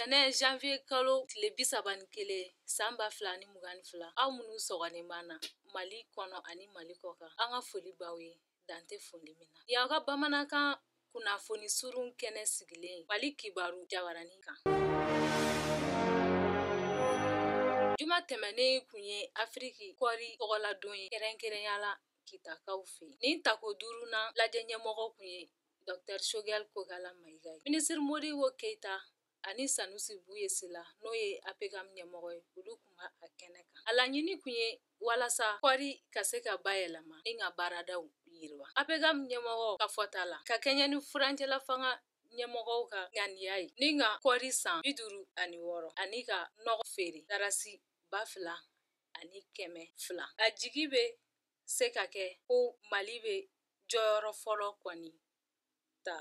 Tɛnɛn janvier kalo tile bi saba ni kelen san ba fila ni mugan ni fila aw minnu sɔgɔlen b'an na mali kɔnɔ ani mali kɔ kan an ka foli b'aw ye dan tɛ foli min na y'an ka bamanankan kunnafoni surun kɛnɛ sigilen mali kibaru jabaranin kan juma tɛmɛnen kun ye afiriki kɔri tɔgɔladon ye kɛrɛnkɛrɛnya la kitakaw fɛ nin tako duurunan lajɛ ɲɛmɔgɔ kun ye Dr sogɛl kokala mayiga ye minisiri modibo keyita ani sanusi buya sila n'o ye APCAM ɲɛmɔgɔ ye olu kun b'a kɛnɛ kan a laɲini kun ye walasa kɔɔri ka se ka bayɛlɛma ni k'a baaradaw yiriwa APCAM ɲɛmɔgɔ ka fɔta la ka kɛɲɛ ni furancɛla fanga ɲɛmɔgɔw ka ŋaniya ye ni ka kɔɔri san bi duuru ani wɔɔrɔ ani ka nɔgɔ feere darasi ba fila ani kɛmɛ fila a jigi bɛ se ka kɛ ko mali bɛ jɔyɔrɔ fɔlɔ kɔni ta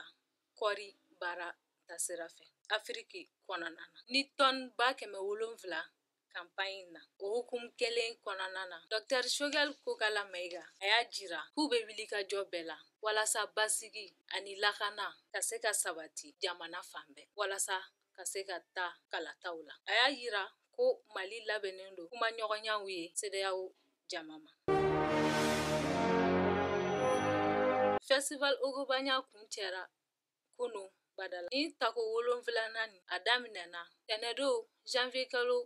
kɔri baara tasira fɛ afiriki kɔnɔna na ni tɔn ba kɛmɛ wolonfila kanpaɲi na o hukumu kelen kɔnɔna na dɔtɛri sogɛli kokala mayiga a y'a jira k'u bɛ wulikajɔ bɛɛ la walasa basigi ani lakana ka se ka sabati jamana fan bɛɛ walasa ka se ka taa kalataw la a y'a jira ko mali labɛnnen don kumaɲɔgɔnyaw ye sedeyaw jama ma. Festival Ogobanya kuncɛra kunun badala nin tako wolonfilanan in a daminɛna tɛnɛdon janvier kalo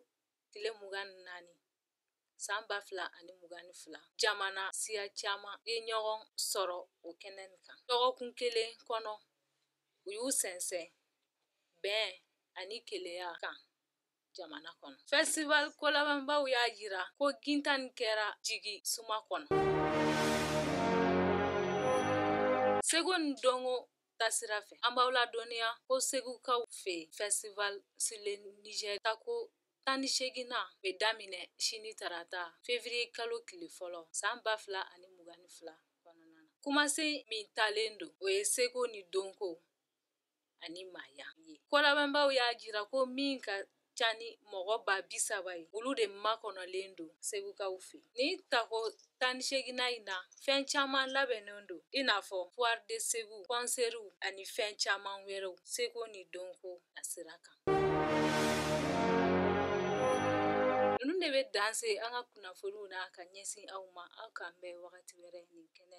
tile mugan ni naani san ba fila ani mugan ni fila jamana siya caman ye ɲɔgɔn sɔrɔ o kɛnɛ nin kan dɔgɔkun kelen kɔnɔ u y'u sɛnsɛn bɛn ani kelenya kan jamana kɔnɔ festival kolabɛnbaw y'a jira ko gintan in kɛra jigi suma kɔnɔ seko ni dɔnko tasira fɛ an b'aw ladɔnniya ko segukaw fɛ festival sur le niger tako tan ni seeginnan bɛ daminɛ sini tarata fevriye kalo tile fɔlɔ san ba fila ani mugan ni fila kɔnɔna na kumasen min talen don o ye seko ni dɔnko ani maaya ye kolabɛnbaaw y'a jira ko min ka ca ni mɔgɔ ba bi saba ye olu de makɔnɔlen don segukaw fɛ nin tako tan ni seginnan in na fɛn caman labɛnnen don i n'a fɔ foire de segu kɔnseriw ani fɛn caman wɛrɛw seko ni dɔnko a sira kan ninnu de bɛ dan se an ka kunnafoniw na ka ɲɛsin aw ma aw k'an bɛn wagati wɛrɛ nin kɛnɛ